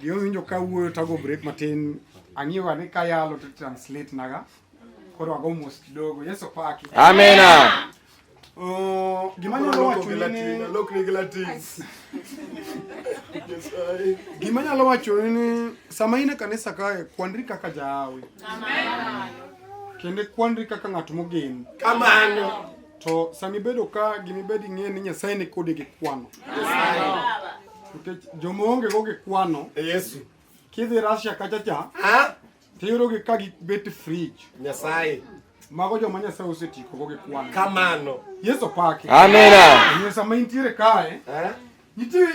Gima winjo ka wuoyo tago break matin ang'iyo ni ka yalo to translate naga koro ago mos kidogo Yesu paki amena oh, gima nyalo wacho ni lok ni latin gima nyalo wacho ni sama in e kanisa kae kwandri kaka jaawi amen kendo kwandri kaka ng'at mogen kamano to sani bedo ka gimibedi ng'e ni nyasaye ni kode gi kwano yes. Nikech joma onge go gikwano. Yesu. Kidhi Russia kacha cha. Ha? Tiyudogi ka gibet fridge. Nyasaye. Mago joma Nyasaye osetieko go gikwano. Kamano. Yesu pake. Amina. Yesu sama intiere kae. Eh? Nitie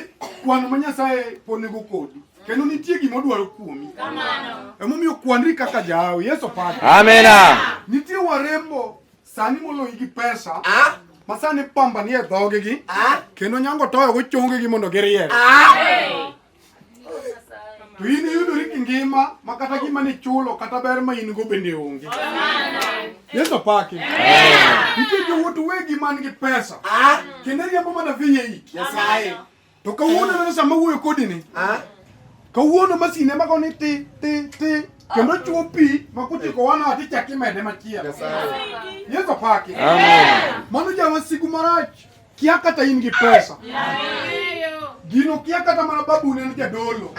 kwano ma Nyasaye ponego kodi. Kendo nitie gima odwaro kuomi. Kamano. Emomiyo kwanri kaka jahawi. Yesu pake. Amina. Nitie warembo Sani moloyi gi pesa. Ah. Masani pamba nie dhoge gi. Ah. Kendo nyango toyo go chonge gi mondo giriere. Ah. To in iyudori gi ngima ma kata gima ni chulo kata ber ma in go bende onge. Yesu paki. Nitie jowuot wegi man gi pesa. Ah. Kendo riambo mana viye iki. Nyasaye. To kawuono neno sama wuoyo kodi ni. Ah. Kawuono masine mago ni ti ti ti kendo chuo pi ma kuchiko wana ati chaki mede machielo. Yesu paki. Amen. Mano jawa siku marach kia kata in gi pesa. Gino kia kata mana babu ne jadolo.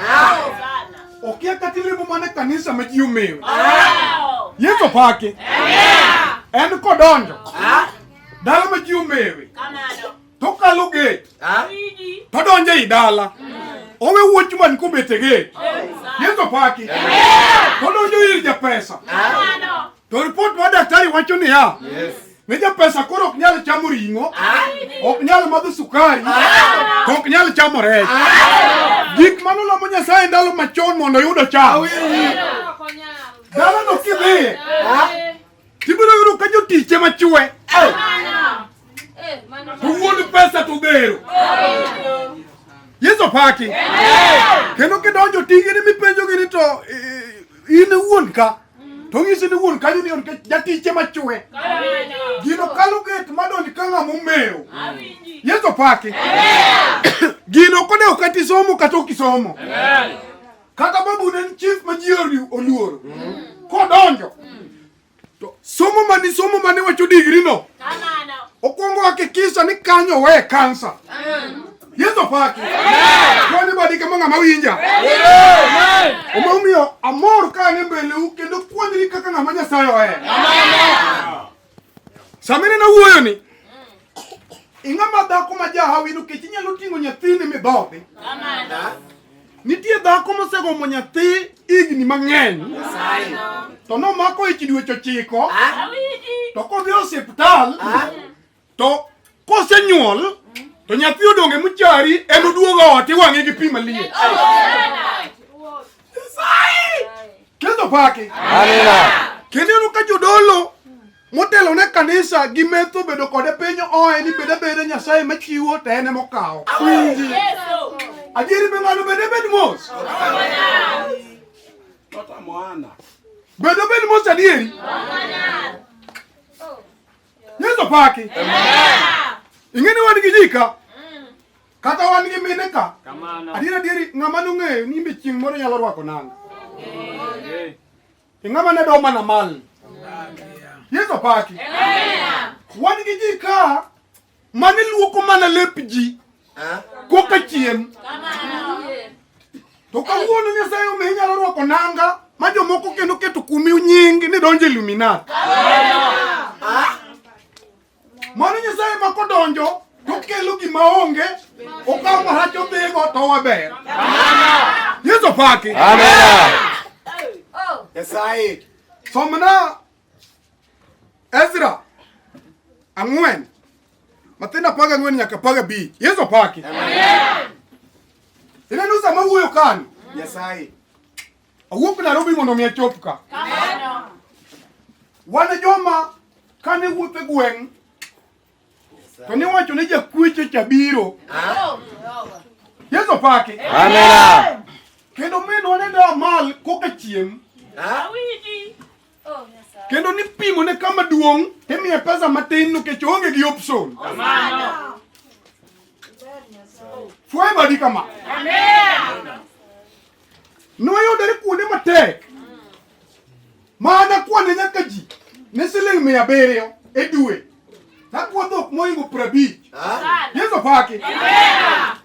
Okia kata ilimo mana kanisa ma ji omewe. Yesu paki. En kodonjo. Dala ma ji omewe. Kamano. to kalo gate ah. to donjo ei dala owe wuoch man kobet e gate Yesu paki to donjo ir japesa ah. to ripot ma daktari wacho niya ne japesa koro ok nyal chamo ring'o ah. ok nyal madho sukari to ok nyal chamo rech gik mano lamo Nyasaye ndalo machon mondo oyudo cham dalano kidhiye Tibiro yudo ka jotich ema chwe. Wuon pesa to gero. Yesu paki. Kendo kidonjo tigi ni mipenjo gini to eh, in wuon ka. To ng'isi ni wuon kanyo ni on ka jatich ema chwe. Gino kalo get madonj ka ng'ama omewo. Yesu paki. Gino kode okati somo kata okisomo. Amen. Kata babu ne en chief ma ji oluoro. Mm. Kodonjo. Mm. To somo mani somo mani wacho digri no. Kamano. Okwongo hakikisha ni kanyo we kansa. Mm. Yesu paki. Kwani badi kama ng'ama winja. Omomiyo amor ka ne mbele u kendo puonjri kaka ng'ama Nyasaye ohero. Samine na wuoyo ni ing'ama dhako ma jahawi nikech inyalo ting'o nyathini midhodhi. Nitie dhako mosegomo nyathi higni mang'eny to nomako ich dweche ochiko to kodhi e osiptal to Kosenyuol to nyathi odonge mchari en oduogo ot iwang'e gi pi maliet. Kendo paki. Amina. Kendo eno ka jodolo motelo ne kanisa gi metho bedo kode piny oe ni bede bede nyasaye machiwo to en emokawo. Adieri be ng'ano bede bed mos. Bedo bed mos adieri. Yesu paki. Ingeni wan gi jika. Mm. Kata wan gi mine ka. Adiera dieri ng'ama nong'eyo ni imbe chieng' moro nyalo rwako nanga. Ing'ama ne doma na mal. Yesu paki. Wan gi jika. mane luoko mana lep ji ah. koka chiem to kawuono Nyasaye omi inyalo rwako nanga ma jomoko kendo keto kumi nying ni donjo Illuminati. Ah. Mano Nyasaye ma kodonjo to kelo gima onge okawo marach odhigo to waber. Yesu paki. Amen. Nyasaye somna Ezra ang'wen Mathayo apar gang'wen nyaka apar gabich Yesu opaki. Ineno sama wuoyo kani Nyasaye awuok Nairobi mondo omi achop ka. Wan e joma kane wuotho e gweng' to niwacho ni jakweche cha biro. Yesu opaki. Amina. Kendo minwa ne da mal koka chiem. kendo nipimo ne kama duong' timiye pesa matin nikech oonge gi option. Fue badi kama. Noyudore kuonde matek mana kwane nyaka ji ne siling' mia abiriyo e dwe Nakuwa dhok moingo prabich. Yesu paki.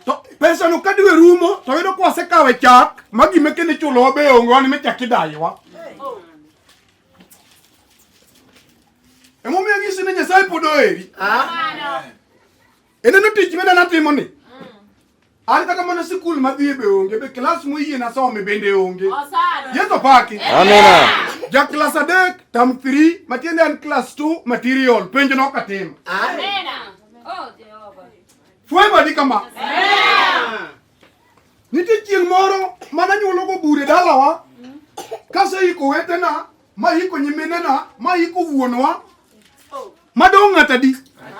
To pesa no kadwe rumo to yudo kwa se kawe chak magi meke ni chulo be ongo ni mechak idaiwa. Emo mi agisi ni Nyasaye podo eri. Ene no tich mena natimo ni. An kata mana sikul madhiye be onge be klas moyie nasome bende onge. Yeso paki. Amina. Ja klas adek tam 3 matiende an klas 2 material penjo nok atimo. Amina. Oh Jehova. Fwema di kama. Amina. Nitie chieng' moro mana nyuologo bure dalawa kase iko wetena ma iko nyiminena ma iko wuonwa madong' ng'ata di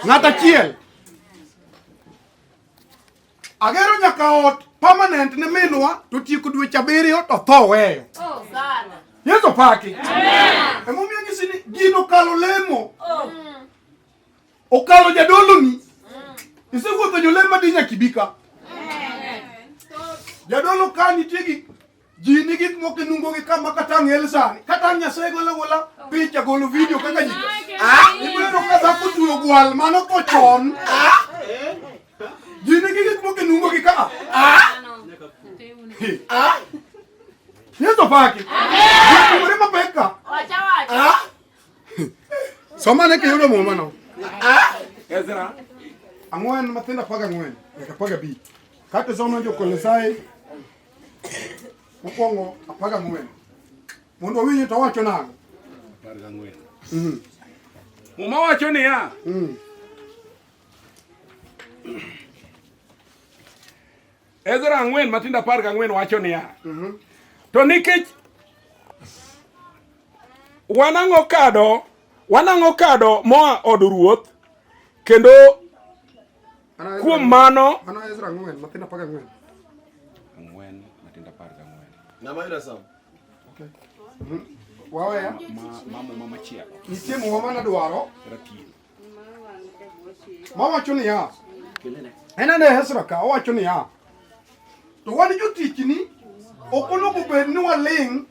ng'ata chiel Agero nyaka ot permanent ne minwa to tieko dweche abiriyo to tho weyo. Oh, Yesu paki. Emomiyo nyisi ni gino kalo lemo. Oh. Okalo jadoloni. Mm. Isewuotho jolemo madinya kibika. Jadolo ka nitie gi ji ni gik moko e nungogi ka ma kata ang' el sani kata ang' nyasaye golo agola picha golo vidio kaka ji ibiro ka dhako tuyo gwal mano ko chon ji ni gik moko e nungogi ka Yesu pake. Kumuri mapeka. Wacha wacha. Soma ne kiyudo muma no. Ezra. Ang'wen mathinda paga ang'wen. Nyaka paga bi. Kata soma jo Kolosai Mokwongo apar gang'wen mondo owinji to owacho nang'o? Apar gang'wen. Mm. Muma wacho niya. Mm. Ezra ang'wen matindo apar gang'wen wacho niya. Mm-hmm. To nikech wanang'o kado wanang'o kado moa od ruoth kendo Kuom mano waweya nitie muma mane dwaro mawacho niya en ane Hezra ka owacho niya to wan jotichni ok onego bed ni waling'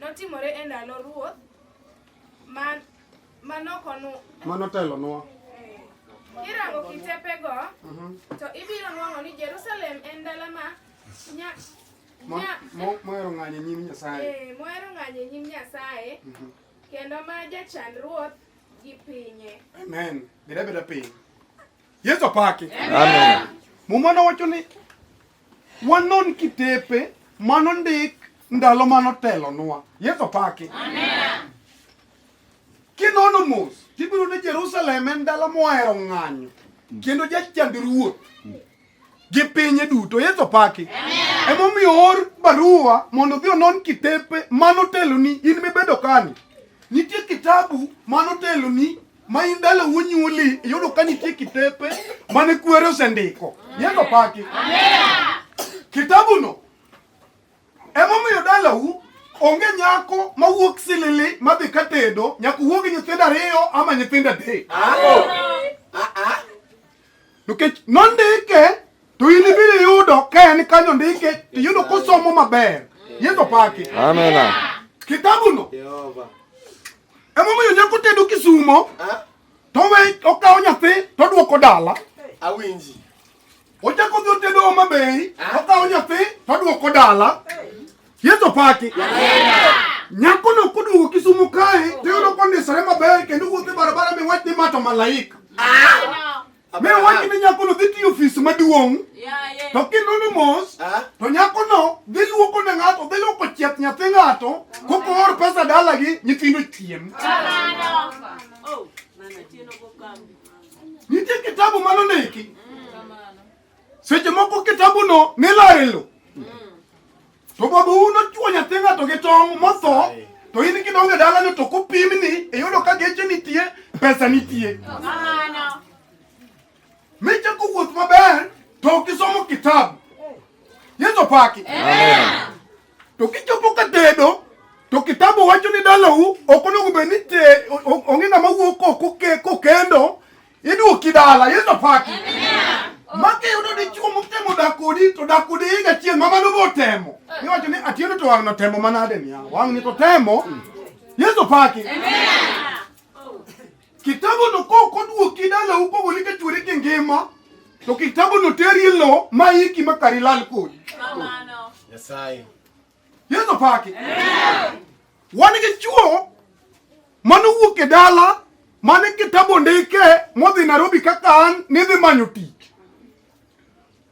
Notimore e ndalo ruoth ma manokonwa manotelonwa eh, kirango kitepego mhm. to ibiro nwang'o ni Jerusalem en dala ma mohero ng'anyo e nyim Nyasaye eh, mohero ng'anyo e nyim Nyasaye mhm. kendo ma jachan ruoth gi pinye amen beda beda piny Yesu apaki amen muma nowacho ni Wanon kitepe mano ndik ndalo mano telonwa. Yesu paki. Amen. Kinono mos, tibiro ne Jerusalem en dala mohero ng'anyo kendo jachand ruoth gi pinye duto yesu paki emomiyo or barua mondo odhi onon kitepe mano teloni in mibedo kani nitie kitabu mano teloni ma in dala wonyuoli iyudo ka nitie kitepe mane kwere osendiko yendo paki kitabuno emomiyo dalau onge nyako mawuok silili madhi ka tedo nyaka wuog nyithindo ariyo ama nyithindo adek nikech nondike to in ibiro yudo ka en kanyo ndike to iyudo kosomo maber yeso paki amena kitabuno Emomiyo nyako tedo kisumo to we okawo nyathi to odwoko dala. Awinji. Ochako dhi otedo Homa Bay okawo nyathi to odwoko dala. Yesu paki. Nyako no koduogo Kisumu kae to yudo kondisore maber kendo wuotho e barabara miwach ni ma to malaika. Me wacho ne nyakono dhi tiyo ofis maduong' to kinoni mos to nyakono dhi luoko ne ng'ato dhi luoko chieth nyathi ng'ato kokoor pesa dalagi nyithindo chiem oh, nitie kitabu mano ndiki seche moko kitabuno nilaro e lo To baba un ochuo nyathi ng'ato gi tong' motho to in kidonge dalano to kopim ni iyudo e ka geche nitie pesa nitie michako wuoth maber to ok isomo kitabu yeso paki to kichopo ka tedo to kitabu wacho ni dalau ok onego bed ni ong'e ng'ama wuok kokendo Iduoki dala, Yesu paki. Maki yudo dichuo motemo dakodi to dakodi higa chieng' ma mano botemo. Iwacho ni atieno to wang'no temo manade niya. Wang'ni to temo. Yesu paki. Kitabu no ko koduoki dala upogo ni ka chwere ki ngima. To kitabu no teri lo ma iki makari lal kodi. Kamano. Nyasaye. Yesu opaki. Wan gi chuo mane owuok e dala mane kitabu ndike modhi Nairobi kaka an nidhi manyo tich.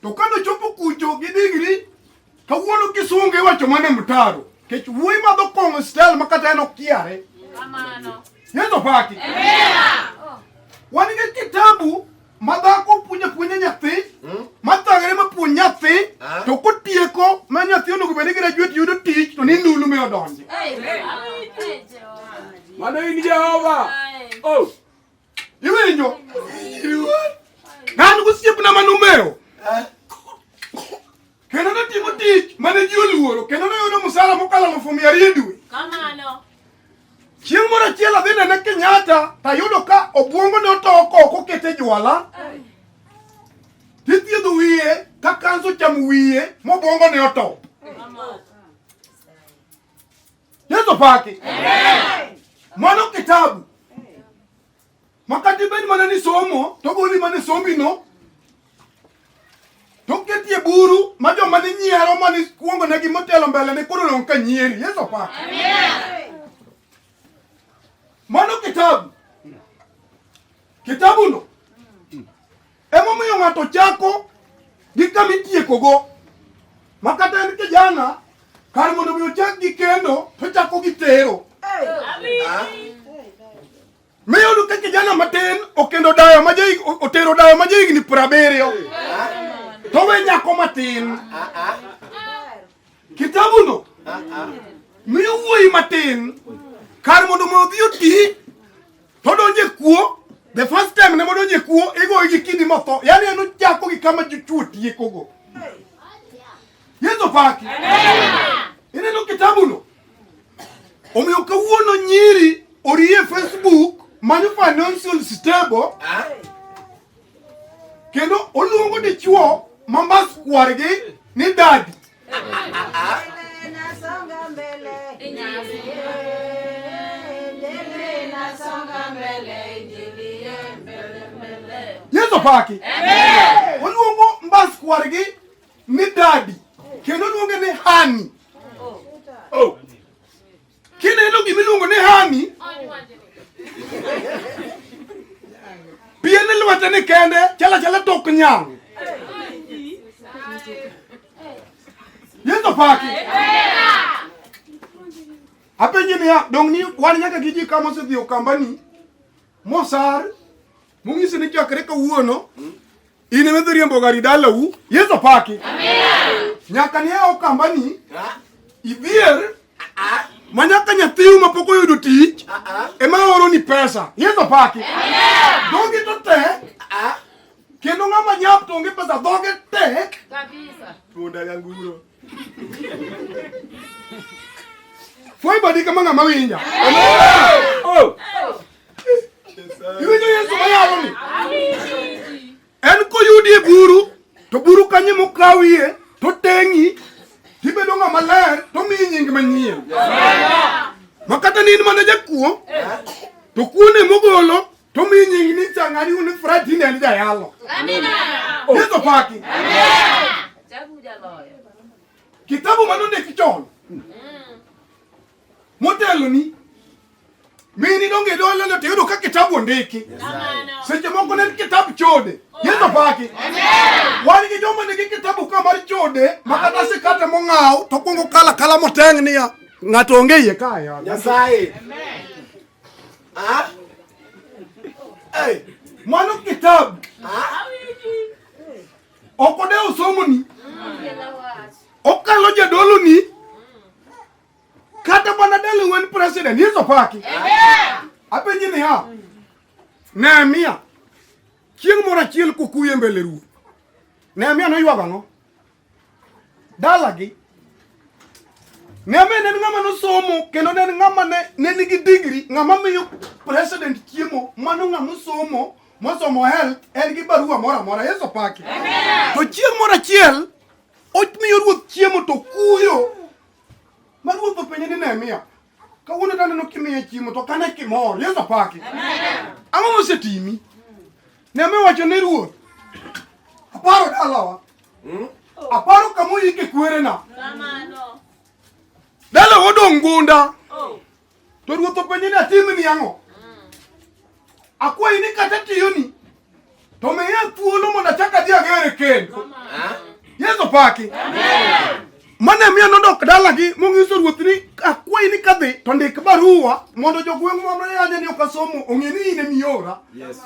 To kane ochopo kucho gi digri kawuono kisungu iwacho mane mtaro. Kech wuoyi madho kong'o stel ma kata en okiare. Yesu opaki. Wan gi kitabu Madhako puonjo apuonja nyathi, hmm? mathagre ma puonj nyathi, ah. to kotieko ma nyathi onego bed ni graduate yudo tich to ni ndulu mi odonje. Mano in Jehova. Oh. Iwinjo? Nan gosiepna manumewo. Eh? Kendo notimo tich mane ji oluoro kendo noyudo musara mokalo alufu mia ariyo dwe. Kamano. Chieng' moro achiel adhi nene Kenyatta tayudo ka obwongo ne otoko ok okete jwala. Tithiedho wiye ka kanso chamo wiye mobwongo ne oto. Yesu paki. Mano kitabu. Makati bed mana ni somo to goli mana somi no to ketie buru ma joma ni nyiero ma ni kuongo ne gimotelo mbele ne koro dong ka nyieri yeso pa mano kitabu kitabu no emomiyo ng'ato chako gi kama itiekogo ma kata en kijana kar mondo mi ochak gi kendo to chako gi tero Miyudo ka kijana matin okendo dayo ma jahigni otero dayo ma jahigni piero abiriyo to we nyako matin kitabuno miyo wuoyi matin kar mondo ma odhi oti to donje kuo the first time ne modonje kuo igoyi gi kidi motho yani en ochako gi kama jochuo tiekogo Yesu paki. Ine no kitabu no. Omiyo kawuono nyiri orie Facebook manyo financial stable. Ah. Kendo oluongo dichuo ma mas kwargi ni dadi. Yesu paki. Amen. Oluongo mbas kwargi ni dadi kendo luonge ni hani. Oh. Kineno gima iluongo ni hani pien lwete ni kende chala chala tok nyang. Yesu paki. Apenji niya, dong ni wan nyaka gi ji kama osedhi okambani mosar mung'isi ni chakre kawuono In ema idhi riembo gari dalau. Yesu paki. Amen. Nyaka ni ao kambani. Idhier. Ma nyaka nyathiu ma pok oyudo tich. Ema oro ni pesa. Yesu paki. Amen. Dongi to te. Kendo ng'ama nyap to onge pesa dhoge tek. Kabisa. Tuonda yanguro. Foi badi kama ngama winja. Oh. Iwinjo Yesu ma yalo ni. En koyudi e buru to buru kanye mokawie to teng'i tibedo ng'ama ler to miyi nying manyien. Makata ni in mana jakuo to kuone mogolo Tumi nyingi ni changani uni frati ne ni dayalo. Amina. Yeso paki. Amina. Chabu jaloyo. Kitabu manunde kichon. Mm. Motelo ni mini donge dole lo tiyudo ka kitabu ondiki seche moko ne kitabu chode yeso paki wan gi joma nigi kitabu ka mar chode ma kata sikate mong'aw to kwongo kala kala moteng' niya ng'ato onge iye kaya nyasaye Mwanuk kitabu okode osomoni okalo jadoloni kata mana dali wen president yeso paki apenji niya Nehemia chieng' moro achiel kokuyo e mbele ruoth Nehemia noywago ang'o? dalagi ng'ama en ng'ama nosomo kendo ne en ng'ama ne ne nigi digri ng'ama miyo president chiemo mano ng'ama osomo mosomo health en gi barua moro amora yesu paki to chieng' moro achiel omiyo ruoth chiemo to kuyo ma ruoth openje ni nehemia kawuono taneno kimiye chiemo to kane kimor yesu apaki ang'o mosetimi ne me wacho ne ruoth aparo dalawa hmm? aparo kama oyike kwerena dalawa odong' gunda oh. to ruoth openje ni atimni ang'o Akwa ini kata tiyoni. To me ya thuolo mondo achak adhi agere kend. Yesu paki. Amen. Mane miyo nodok dalagi mong'iso ruoth ni akwayi ni kadhi to ndik barua mondo jogweng' mamre yanya ni okasomo ong'e ni in emiora. Yes.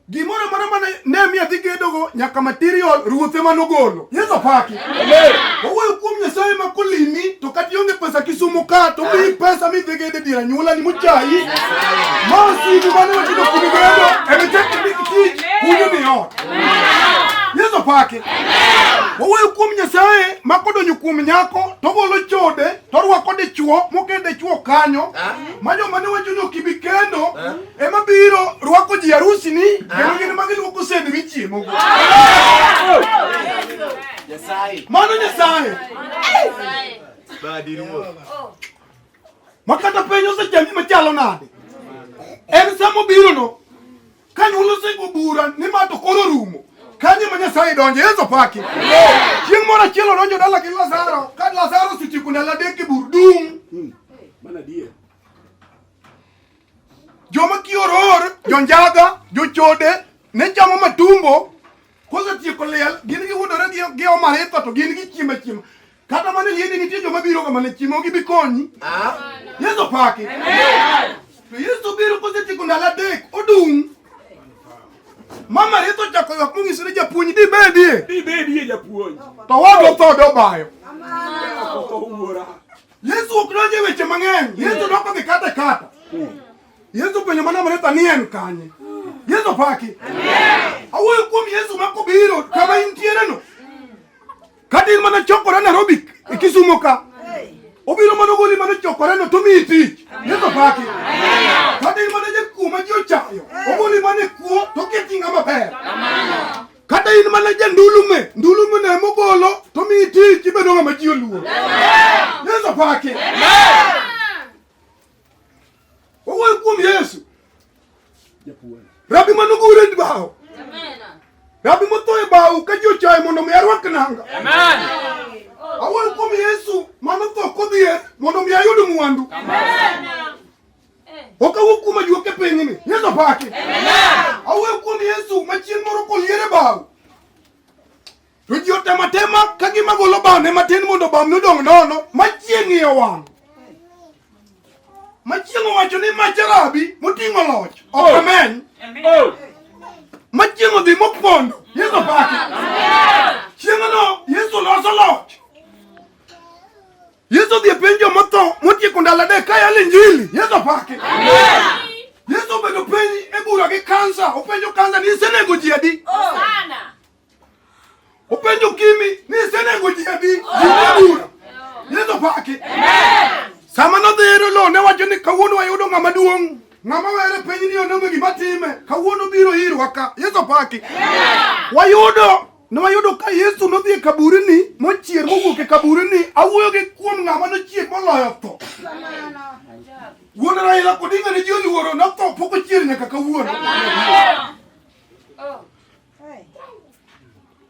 Gimoro moro mane Nehemia dhi gedogo nyaka material ruoth ema nogolo. Yesu paki. Owe kuom Nyasaye ma kolimi to kata ionge pesa Kisumu ka to mi pesa mi dhige de dira nyuola ni muchayi. Ma osigu mane watino kuno godo ebe chako ni kitich kunyo ni ot. Yesu pake. Owe kuom Nyasaye ma kodonyo kuom nyako to golo chode to rwako dichuo mokende chuo kanyo. Ma joma ne wacho ni ok ibi kendo ema biro rwako ji harusi ni kendo gin ma giluoko sende gi chiemo go. Mano Nyasaye ma kata piny osechami machalo nade, en sama obirono ka nyuol osego bura ni ma to koro rumo kanye ma Nyasaye donjo Yesu paki chieng' moro achiel odonjo dala gi Lazaro ka Lazaro osetieko ndalo adek e bur dum Joma kioror, jonjaga, jochode, ne chamo matumbo, kosetieko liel, gin giwudore gi gi omaritho to gin gichiemo achiema. Kata mana liende nitie joma biro kama ne chiemo gibi konyi. Yesu paki. To Yesu biro kosetieko ndalo adek, odung'. Mama Ritho ochako ywak mong'iso ni japuonj dibedie, Dibedie japuonj. to wadwa tho dobayo. Otho wuora. Yesu ok donje weche mang'eny. Yesu doko gi kata kata. Yesu penyo mana mane tani en kanye. Yesu paki. Amen. Awuoyo kuom Yesu ma kobiro kama intiere no. Kata in mana chokore Nairobi e Kisumo ka. Obiro mana goli mana chokore no to mi tich. Yesu paki. Amen. Kata in mana jakuo ma ji ochayo. Ogoli mana kuo to keti ng'ama ber. Amen. kata in mana ja ndulume ndulume ne mogolo to mi tich ibedo ng'ama ji oluor yesu pake owuoyo kuom yesu rabi manogure e bao rabi motho e bao ka ji ochaye mondo mi arwak nanga awuoyo kuom yesu manotho kodhier mondo mi ayud mwandu okawuok kuom ajuoke pinyni yeso paki awuoyo kuom yesu machieng' moro koliere bao to ji otematema ka gima golo bamne matin mondo bamne odong' nono machieng' iye wang' machieng' owacho ni macharabi moting'o loch ok oh. ameny oh. machieng' odhi mopondo yeso paki chieng'no yesu loso loch Yesu odhi e piny jomotho motieko ndalo adek ka yalo injili. Yesu apaki. Yesu obedo piny e bura gi kansa, openjo kansa ni isenego ji adi? Oh. Openjo kimi ni isenego ji adi? Bura. Yesu apaki. Sama nodhi ero lo ne wacho ni kawuono wayudo ng'ama duong'. Ng'ama were piny ni ononge gima time. Kawuono biro irwa ka. Yesu apaki. Wayudo Ne wayudo ka Yesu nodhi e kaburini mochier mowuok e kaburini. Awuoyo gi kuom ng'ama nochier moloyo tho. Wuon Raila Odinga ne ji oluoro notho pok ochier nyaka kawuono.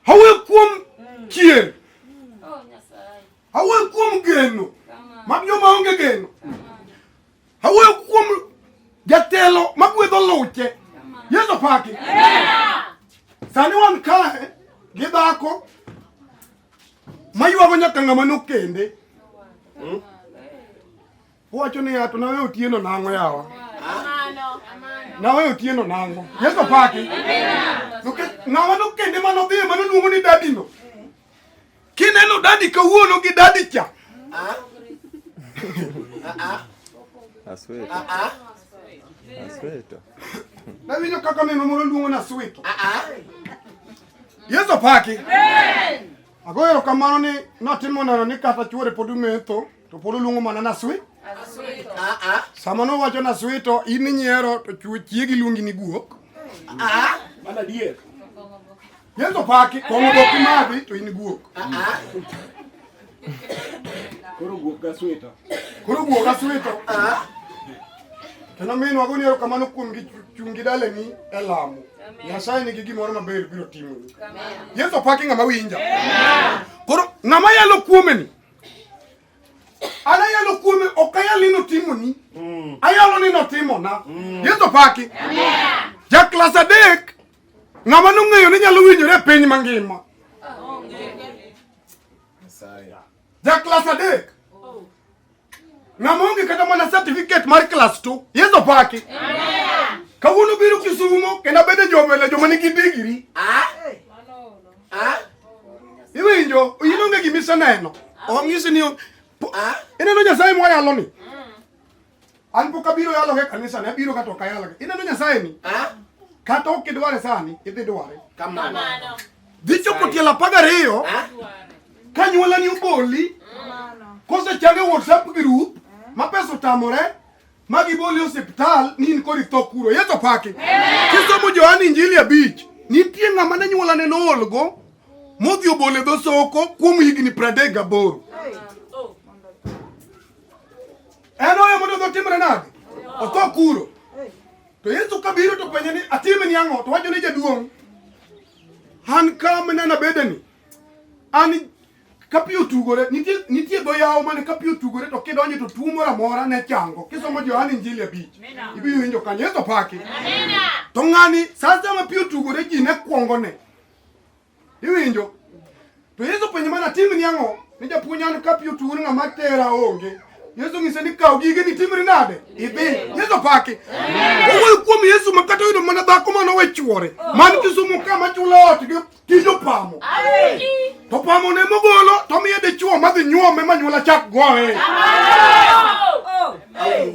Awuoyo kuom chier. Awuoyo kuom geno. Mag joma onge geno. Awuoyo kuom jatelo magwedho luche. Yesu paki. Sani wan kae gi dhako maywago nyaka ng'ama nokende. Hmm? Wacho ni ato nawe otieno nang'o yawa. Nawe otieno nang'o. Yesu paki. Ng'ama nokende manodhi ema noluongo ni dadino. Kineno dadi kawuono gi dadi cha. Ah. Ah. ah. Asweto. Ah, ah. Asweto. Nawinjo kaka neno moro luongo na Asweto. Ah, ah. Yesu opaki. Amen. Ago erokamano ni notimo neno ni kata chuore pod umetho to pod oluongo mana naswi. Ah, ah. Sama nowacho naswi to in inyiero to chiegi luongi ni guok. Ah, ah. Mana dier. Yeso paki kong'o bok madhi to in guok. Ah, ah. Koro guok ga swito. Koro guok ga swito. Ah. Kendo min wago ni kamano kuom gi chung' gi daleni e lamo. Nyasaye nigi gimoro maber biro timo. Yeso paki ng'ama winja. Koro ng'ama yalo kuome ni. Ana yalo kuome ok ayal ni notimo ni. Mm. Ayalo ni notimo na. Mm. Yeso paki. Ja klas adek Ng'ama nong'eyo ni nyalo winjore e piny mangima? Ja klas adek. Ng'ama onge kata mana certificate mar klas 2. Yesu paki. Kawuono biro Kisumo kendo abedo jomele joma nigi digiri. Ah? Ah? Iwinjo, in onge gima iseneno. Ong'isi ni ineno Nyasaye mwayaloni. Anpo kabiro yalo ke kanisa ne biro kato kayalo. Ina no nyasaye ni. Ah? Kata ok idware sani, idhi dware. Kamano. Dhi chopo tielo apar ariyo. Ah? Ka nyuola ni oboli. Kose change WhatsApp group ma pesa otamore ma giboli osiptal ni in kori tho kuro. Yeto paki. Kisomo Johani Injili abich. Nitie ng'ama ne nyuola ne noolgo modhi obole dho soko kuom higni pradek gaboro. En oyo mondo odhi otimre nade? Otho kuro. To Yesu kabiro to penje ni atime ni ang'o? To wacho ni jaduong'. An ka minena bedeni. An kapi otugore nitie nitie dho yawo mane kapi otugore to kidonje to tuo moro amora ne chango kisomo Johana Injili abich ibiro winjo kanyo Yesu paki to ng'ani sasa ma pi otugore ji ne kwongone Iwinjo? To Yesu penjo mana tim ni ang'o? Ni japuonj an ka piyo tuun ng'ama tera onge. Yesu ng'ise ni kaw gige ni timri nade? Idhi. Yesu paki. Owuoyo kuom Yesu ma kata oyudo mana dhako ma nowe chwore. Man Kisumu ka ma chulo ot gi tij opamo. To pamo ne mogolo to miye dichwo ma dhi nyuome ma nyuola chak goye. Amen.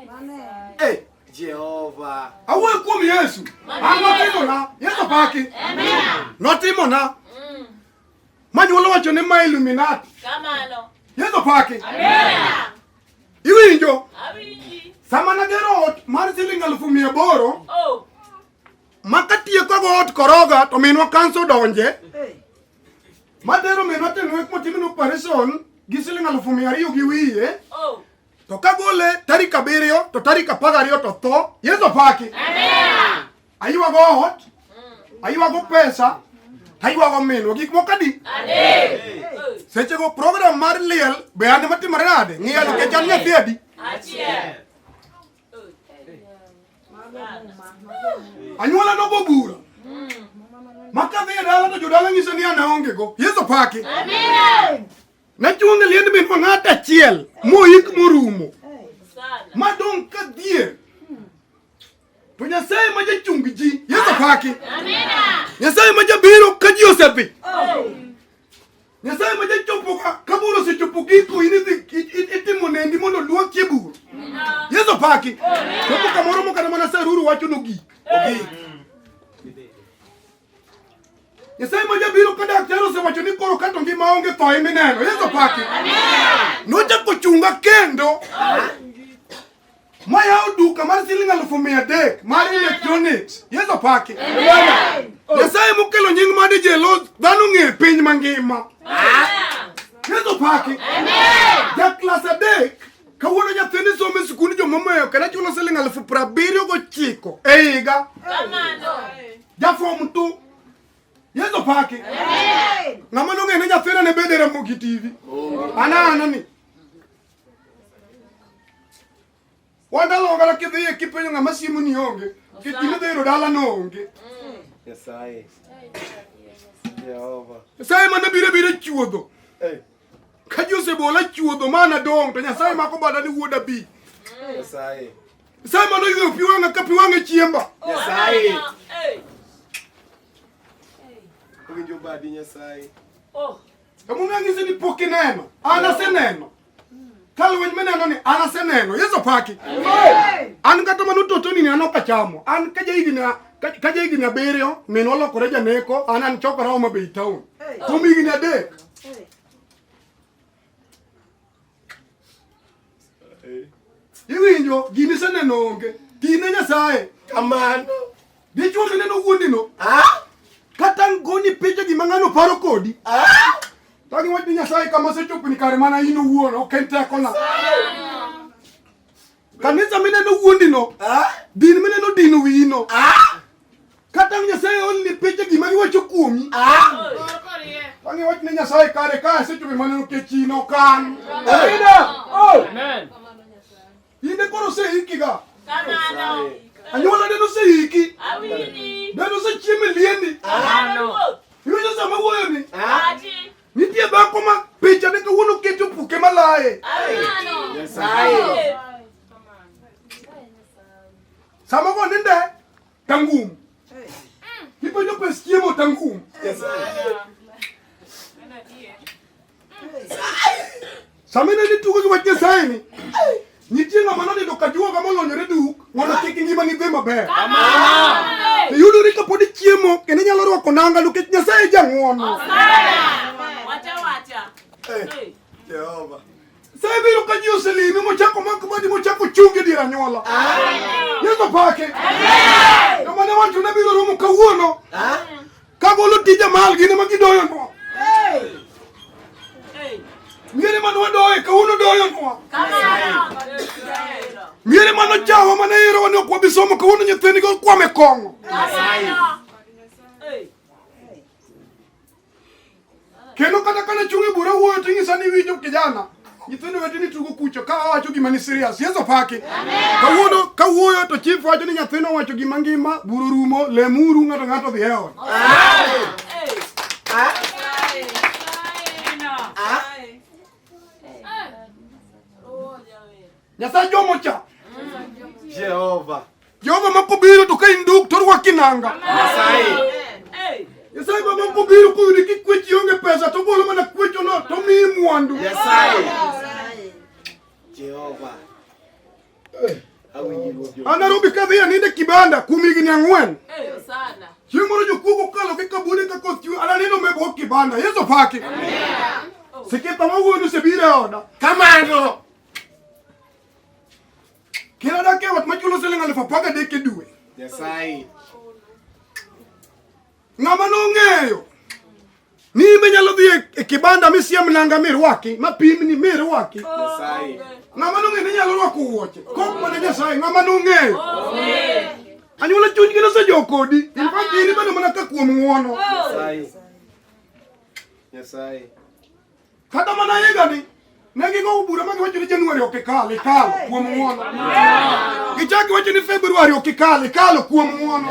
Amen. Amen. Jehova. Awo ekum Yesu. Anotimo na. Yesu paki. Amen. Notimo na. Mm. Manyi wala wacho ni ma Illuminati. Kamano. Yesu paki. Amen. Iwinjo. Awinji. Sama na gero ot mar siling alufu mia aboro. Oh. Makatie kwa ot koroga to minwa kanso donje. Hey. Madero minwa tenwe kumo timino operation gi siling alufu mia ariyo gi wiye. Oh. to kagole tarik abiriyo to tarik apar gariyo to tho yesu opaki aywago ot aywago pesa taywago minwa gik moko adi sechego program mar liel be ane matimore nade ng'iya nikech an nyathi adi anyuola nogo bura makadhi e dala to jodala nyiso ni an aongego yesu paki Nachunge liend min ma ng'at achiel moik morumo madong' ka dhier to Nyasaye ma jachung ji Yesu paki Nyasaye ma jabiro ka ji osebi Nyasaye ma jachopo ka bur osechopo giko in itimo nendi mondo luokie bur Yesu paki chopo kamoro mokana mana saruru wacho nogik ogik Nyasaye ma jabiro ka daktari osewacho ni koro kato ngima onge tho imi neno. Yesu paki. Nochako ochunga kendo. Mayawo duka mar siling alufu mia adek mar electronics. Yesu paki. Nyasaye mokelo nying made jelo dhano ng'e piny mangima. Yesu paki. Ja klas adek kawuono nyathini somo e sikund jomomeyo kendo achulo siling alufu prabiriyo gochiko e higa. jafo mtu yezo pake ngama nonge ne jafera ne bedere moki tv ana ana ni wanda lo gara ke de ki penyo ngama simu ni onge ke tine de ro dala no onge yesaye jehova sai mana bire bire chuodo eh Ka ji osebola chuodho mana dong' to Nyasaye mako bada ni wuoda bi. Nyasaye. Nyasaye mano ywe pi wang'a ka pi wang'a e chiemba. Nyasaye. Owinjo badi Nyasaye. Emomiyo ang'ise ni pok ineno. An aseneno. Ka lweny mineno ni an aseneno, Yesu paki. An kata mano toto nini an ok achamo. An ka jahigni ka jahigni abiriyo minwa olokore janeko, an an chokora Homa Bay town. Kuom higni adek. Iwinjo, gini seneno onge. Tine Nyasaye. Kamano. Dichwo kende no wuondi no. Ah? Kata ngoni picha gima ng'ano paro kodi. Ah? Tangi wadi nyasaye kama se chopini kare mana ino wuon ok en teko na. Kanisa mine no wuondi no. Ah? Din mine no dino wiyi no. Ah? Kata nyasaye only picha gima giwacho kuomi. Ah? Tangi wadi nyasaye kare ka se chopini mana no kechino kan. Amen. Oh. Amen. Ine koro seiki ga. Kamano. Anyuola neno seiki. Awini. Neno se chieme lieni. Kamano. Iwinjo sama wuoyo ni? Ati. Nitie dhako ma picha ne kawuono keto puke malaye. Kamano. Nyasaye. Sama go ninde. Tangum. Ni pa nyope skiemo tangum. Yes. Samina ni tugo gi wajja saini. Nitie ng'ama nonindo ka juo kama olonyore duk mondo kik ngima ni dhi maber. Amina. Iyudo ni kapod ichiemo kendo inyalo rwako nanga nikech Nyasaye jang'wono. Wacha wacha. Hey. Jehova. Sa ibiro ka ji oselimi mochako mak madi mochako chungi dir anyuola. Yesu pake. Joma ne wacho ne biro romo kawuono. Ka golo tije mal gin ema gidoyo nwa. Miere mane wadoye kawuono doyo nwa. Miere mane ochawa mane ero wani ok wabi somo kawuono nyithindgi okwame kong'o. Kendo kata kana chungi bura wuoyo to inyisa ni winjo kijana. Nyithindo wetu ni tugo kucho ka wacho gima ni serious. Yesu paki. Kawuono ka wuoyo to chief wacho ni nyathino wacho gima ngima, buru rumo, lemuru ng'ato ng'ato dhi eon. Ah. Nyasaye jomo cha. Jehova. Jehova makubiro to ka induk to rwa kinanga. Nyasaye. Nyasaye baba makubiro kuyudi ki kwech yonge pesa to bolo mana kwech ono to mi mwandu. Nyasaye. Jehova. Eh. Anarobi kadhi ya ninde kibanda kumi gini angwen. Eh, sana. Chieng' moro jokuo kokalo gi kabune ka koth chwe ananeno mebwo kibanda. Yesu paki. Amen. Sikita mawuono sebiro e oda. Kamano. Kila dake wat machulo siling aluf apar gadek e dwe. Nyasaye. Ng'ama nong'eyo ni imbe nyalo dhi e- e kibanda misiem nanga mirwaki mapimni mirwaki Nyasaye. ng'ama nong'eyo ni nyalo rwako wuoche kok mana nyasaye ng'ama nong'eyo anyuola chunygi nosejok kodi in fact in ibedo mana ka kuom ng'wono Nyasaye. Nyasaye. Kata mana higani ne gigowo bura ma giwacho ni Januari ok ikal, ikalo kuom ng'wono. Gichako wacho ni Februari ok ikal, ikalo kuom ng'wono.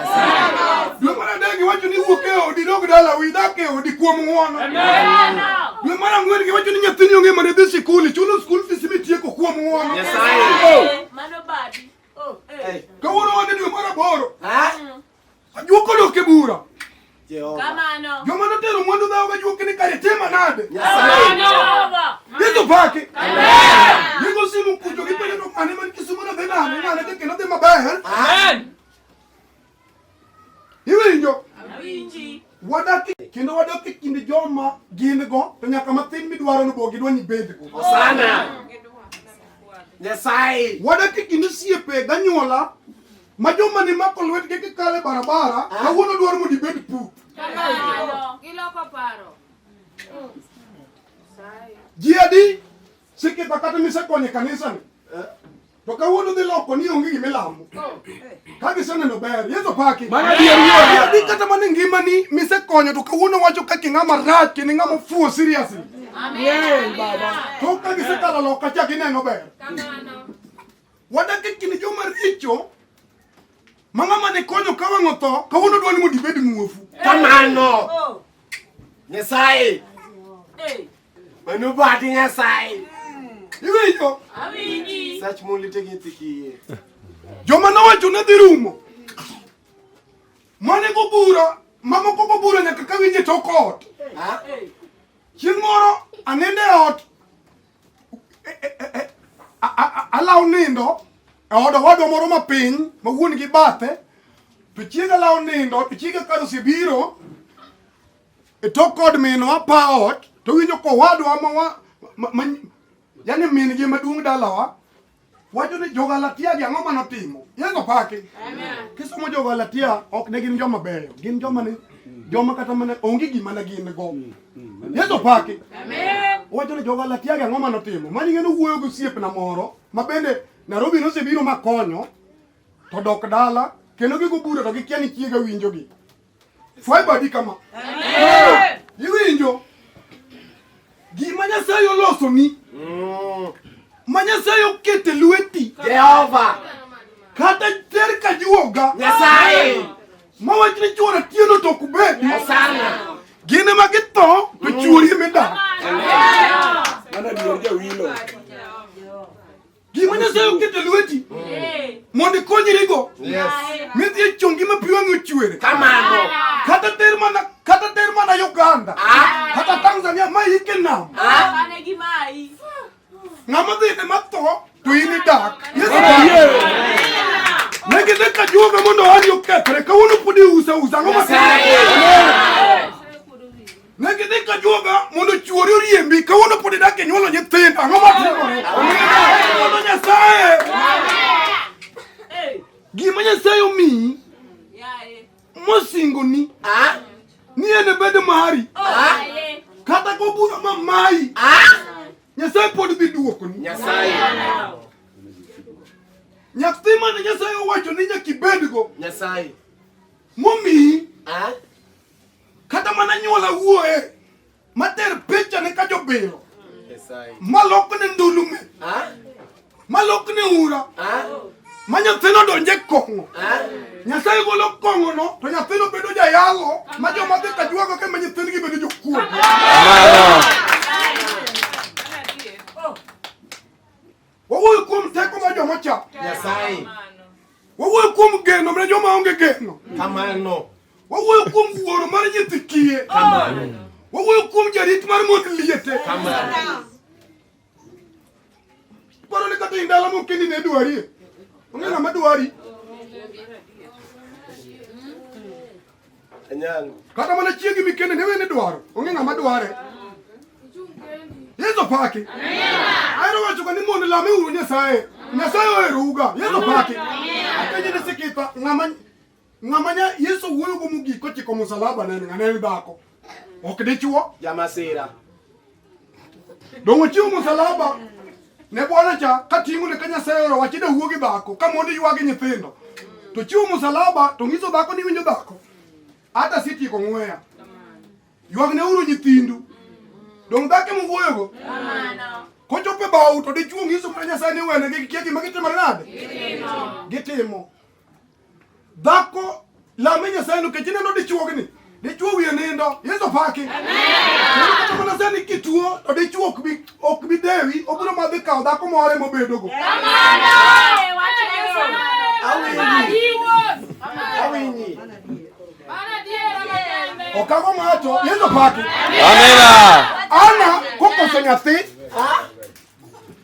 Dwe mar adek giwacho ni wuok e odi, dog dala, wi dak e odi kuom ng'wono. Dwe mar ang'wen giwacho ni nyathini onge mana dhi sikul, ichulo skul fees mitieko kuom ng'wono. Mano badi. Oh, eh. Kawuono wan e dwe mar aboro. Ajuok odok e bura. Kamano. Joma notero mwandu dhawo ga juok ni kare tema nade? Kamano. Yesu pake. Amen. Yego simu kujo gi pele to mane man kisumo na dhena ane ngane ke kelo dhema bae. Amen. Iwinjo. Awinji. Wadaki kendo wadaki kinde joma gin go to nyaka matin midwaro ni bogi dwa ni bed go. Sana. Nyasaye. Wadaki kinde siepe ganyuola Ma joma ni mako lwetgi kikale barabara, ah. kawuono dwaro mondo ibed put. Kamano, giloko paro. Ji adi sikita kata misekonye kanisa ni. Eh. To kawuono dhi loko ni onge gima ilamo. Oh. Ka giseneno ber, Yesu paki. Mana dier wuoyo. Adi kata mana e ngima ni misekonyo to kawuono wacho ka king'ama rach, kini ng'ama fuo seriously. Amen. Baba. To ka gisekalo loka cha gineno ber. Kamano. Wadak e kind joma richo ma ng'ama ne konyo ka wang' otho kawuono dwa ni mondo ibed muofu. Kamano. Oh. Nyasaye. Mano bati Nyasaye. Hmm. Iwinjo? Awinji. Sach mon lite gi nyithi kiye. Joma nowacho ne dhi rumo. Mane go bura, mamoko go bura nyaka ka winje tok ot. Chieng' moro anende ot Alaw nindo e od owadwa moro ma piny ma wuon gi bathe to chieng' alaw nindo to chieng' ka osebiro e tok kod minwa pa ot to winjo kowadwa ma yani min gi maduong' dalawa Wacho ni Jogalatia gi ang'o mane otimo? Yesu opaki. Kisomo Jogalatia ok ne gin joma beyo, gin joma ne joma kata mana onge gima ne gin go. Mm, mm, Yesu opaki. Wacho ni Jogalatia gi ang'o mane otimo? Mani ng'eno wuoyo gi osiepna moro ma bende Nairobi nosebiro makonyo to dok dala kendo gigo bura to gikia ni chiega winjogi. fwaibadikama iwinjo gima nyasaye olosoni mm. ma nyasaye okete lweti jehova kata ter ka juoga nyasaye ma wach ni chuora tieno to ok bedi gin ema githo to mm. chuori emidak mana dier jawilo Gima Nyasaye oketo e lweti mondo ikonyrigo midhi e chongi ma pi wang'e ochwer. Kamano. Kata ter mana kata ter mana Uganda. Ah. Kata Tanzania ma ike nam. Ah. Ng'ama dhi ne matho to in idak. Yesu oyie. Ne gidhi ka juoga mondo ohandi okethre kawuono pod iusa usa ang'o ma Ne gidhi ka juoga mondo chuori oriembi kawuono pod idak e nyuolo nyithindo. Ang'o ma timore? Mondo Nyasaye. Gima Nyasaye omiyi mosingoni ni en bedo mari kata kobura ma mayi Nyasaye pod dhi duokoni. Nyasaye. Nyathi mane Nyasaye owacho ni nyaka ibedgo. Nyasaye. Momiyi. Kata mana nyuola wuoye mater picha ne ka jobilo malok ne ndulume malok ne ura ma nyathino donje kong'o nyasaye golo kong'ono to nyathino bedo jayalo ma joma dhi ka jwago kembe nyithindgi bedo jokuo Wawuoyo kuom teko mar joma cha. Nyasaye. Wawuoyo kuom geno mar joma onge geno. Kamano. Wawuoyo kuom wuoro mar nyithi kiye. Kamano. Wawuoyo kuom jarit mar mond liete. Kamano. Paro ni kata indalo moko kendi ne dwarie. Ong'e ng'ama dwari. kata mana chiegi mikende ne wene dwaro onge ng'ama dware yeso paki ayero wacho ka ni mondo lame uru nyasaye nyasaye oherouga yeso paki apenje ne sikita ng'ama ng'ama nya yeso wuoyo go mogik kochiko musalaba nene ng'ane en dhako ok dichuo jamasira donge ochiwo musalaba ne bwana cha kating'o ne ka nyasaye oro wachida wuo gi dhako ka mondo ywagi nyithindo to chiwo musalaba to ng'iso dhako ni winjo dhako hata sitieko ng'weya ywag ne uru nyithindu donge dhake muwuoyogo kochope bau to dichuo ng'iso ka nyasaye ni wene gi kia gima gitimore nade gitimo Dhako lame Nyasaye nikech ineno dichuogni dichuo wiye nindo yesu opaki kata mana sani kituo to dichuo ok bi ok bi dewi obiro ma dhi kawo dhako moro ema obedogo awinyi okago ng'ato yesu opaki ana kokoso nyathi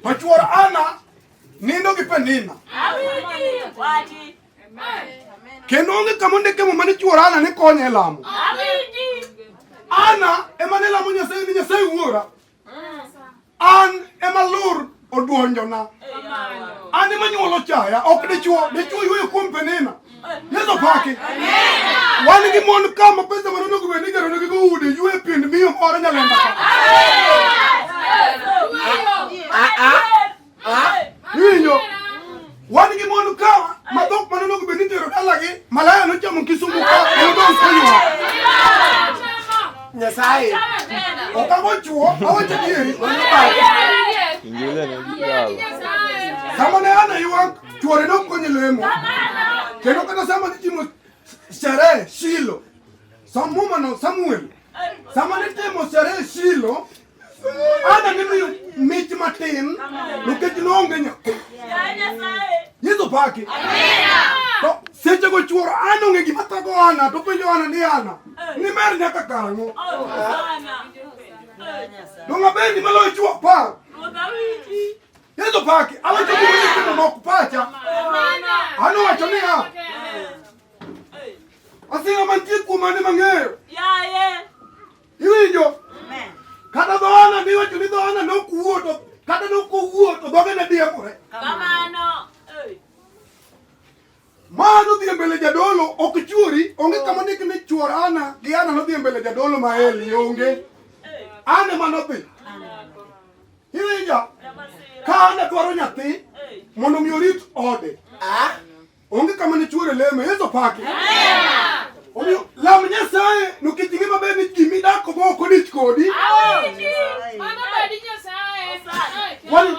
to chuor ana Nindo gi Penina. Kendo onge kama ondike muma ni chuor Ana ne konye e lamo. Ana ema ne lamo Nyasaye ni Nyasaye wuora. An ema lur odwonjona. An ema nyuolo chaya, ok dichuo, dichuo yueyo kuom Penina. Yesu pake. Wan gi mon ka ma pesa ma nonego bed ni jaro nigi go udi ywe pind miyo moro nyalenda ka. Winyo. Wan gi mon ka ma dhok ma nonego bed ni tero dalagi malaya nochamo Kisumu ka nodong' Konywa. Nyasaye. Ok ago chuo, awacho adieri. Injili ni jalo. Kama ne ana ywak Chuore dok konye lemo. Kendo kata sama nitimo sherehe Shilo, som mumano Samuel, sama nitimo sherehe Shilo, Ana nimiyo mich matin nikech noonge nyathi. Yesu paki. To seche go chuoro an onge gima thago Ana to penjo Ana ni Ana eh. ni mer nyaka karang'o? Oh, Donga bendi maloyo chuo apar. Yesu pake awacho kuno nok pacha ano wacho niya asinga mantie kuom mane mang'eyo iwinjo kata dhoana niwacho ni dhoana nokuwo to kata nokowuo to dhoge ne diekore Ma nodhi e mbele jadolo ok chwori, onge kama ndik ni chwor Ana gi Ana nodhi e mbele jadolo ma Eli, onge. Ana ema nodhi. Iwinja? Ka Ana dwaro nyathi mondo mi orit ode. Ah. Onge kama ne chwore lemo, Yesu paki. Omiyo lam Nyasaye nikech ing'e maber ni ji midako go ok odich kodi. Wani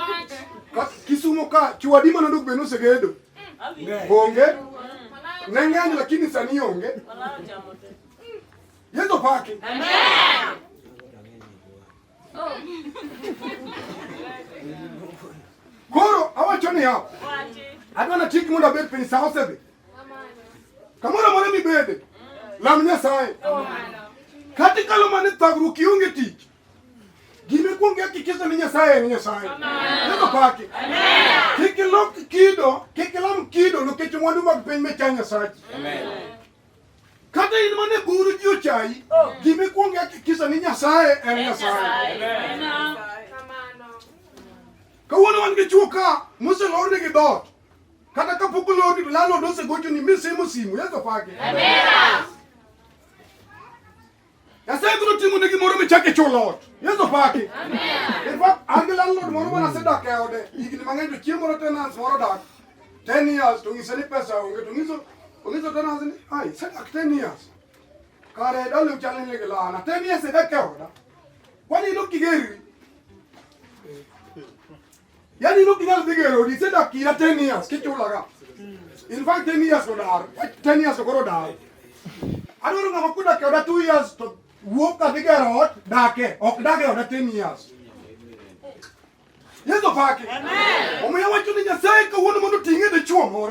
Kisumo ka chwadi manodok be nosegedo. Onge. Nang'anyo lakini sani onge. Yesu pake. Amen. Oh. Koro awacho ni hapo. Adwa na chik mondo abed piny sa osebe. Kamoro amora mibede. Lam Nyasaye. Kati kalo mane thagruok ionge tich. Gimikuongo hakikisha ni Nyasaye ni Nyasaye. Neno pake. Kik ilok kido, kik ilam kido nikech mwandu mag piny mecha Nyasaye. Kata in mana e buru ji ochayi, oh. gimikuongo hakikisha ni Nyasaye en Nyasaye. Kawuono wan gi chuo ka moselorne gi dot. Kata kapok olorni to landlord osegochoni misimo simu. Yeso pake. Amina. Nyasaye biro timo ne gimoro michak e chulo ot. Yesu paki. In fact, an gi landlord moro mana sedak e ode higni mang'eny to chieng' moro tenants moro dak 10 years to ng'ise ni pesa onge to ng'iso ongiso tenants ni ai sedak 10 years. Kare dole uchal ni ligi lana 10 years sedak e oda. Kwani ino kigeri yani ino kinal bigero di seda kira 10 years ke chula ga in fact 10 years ko dar 10 years ko dar adoro ngama kuda ke oda 2 years to wuok ka bigero ot dake ok dake oda 10 years yeso pake omiyo wacho ni nyasaye kawuono mondo ting'e dichuo moro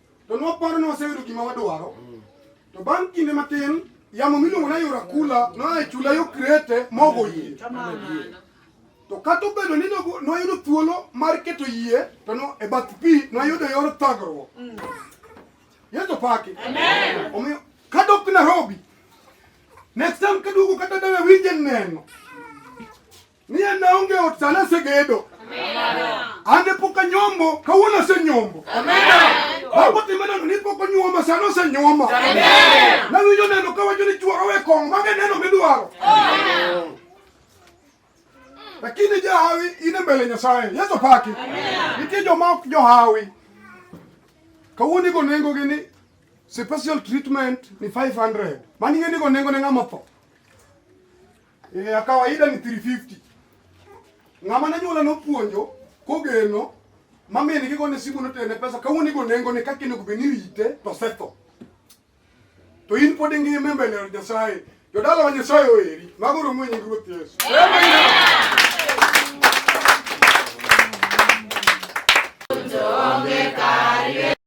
To nwaparo ni waseyudo gima wadwaro. To bang' kinde matin, yamo miluongo ni Ayora Kula noa e chula yo Krete mogo yie. To kata obedo ni nogo- nwayudo thuolo mar keto yie to no, e bath pi nwayudo yor thagruok. Yesu paki. Omiyo kadok Nairobi, next time kaduogo kata dala winje neno. Niye naonge otana segedo. Ande poka nyombo kawuono se nyombo. Baba timena ni poko nyuoma sano se nyuoma. Nawinjo neno kawacho ni chuo awe kong mage neno midwaro. Lakini jahawi ine mbele Nyasaye. Yesu paki. Nitie joma ok johawi. Kawuono igo nengo gi ni special treatment ni 500. Mani ng'e ni go nengo ne ng'ama tho. Eh, ya kawaida ni 350. Ng'ama ne nyuola nopuonjo kogeno mamini kigone simu notene pesa kawuono igo nengo ni kaka onego bed ni rite to setho. To in pod ingima mbele ya Nyasaye. Jodala wa Nyasaye oeri. Mago romo nying Ruoth Yesu. Amen.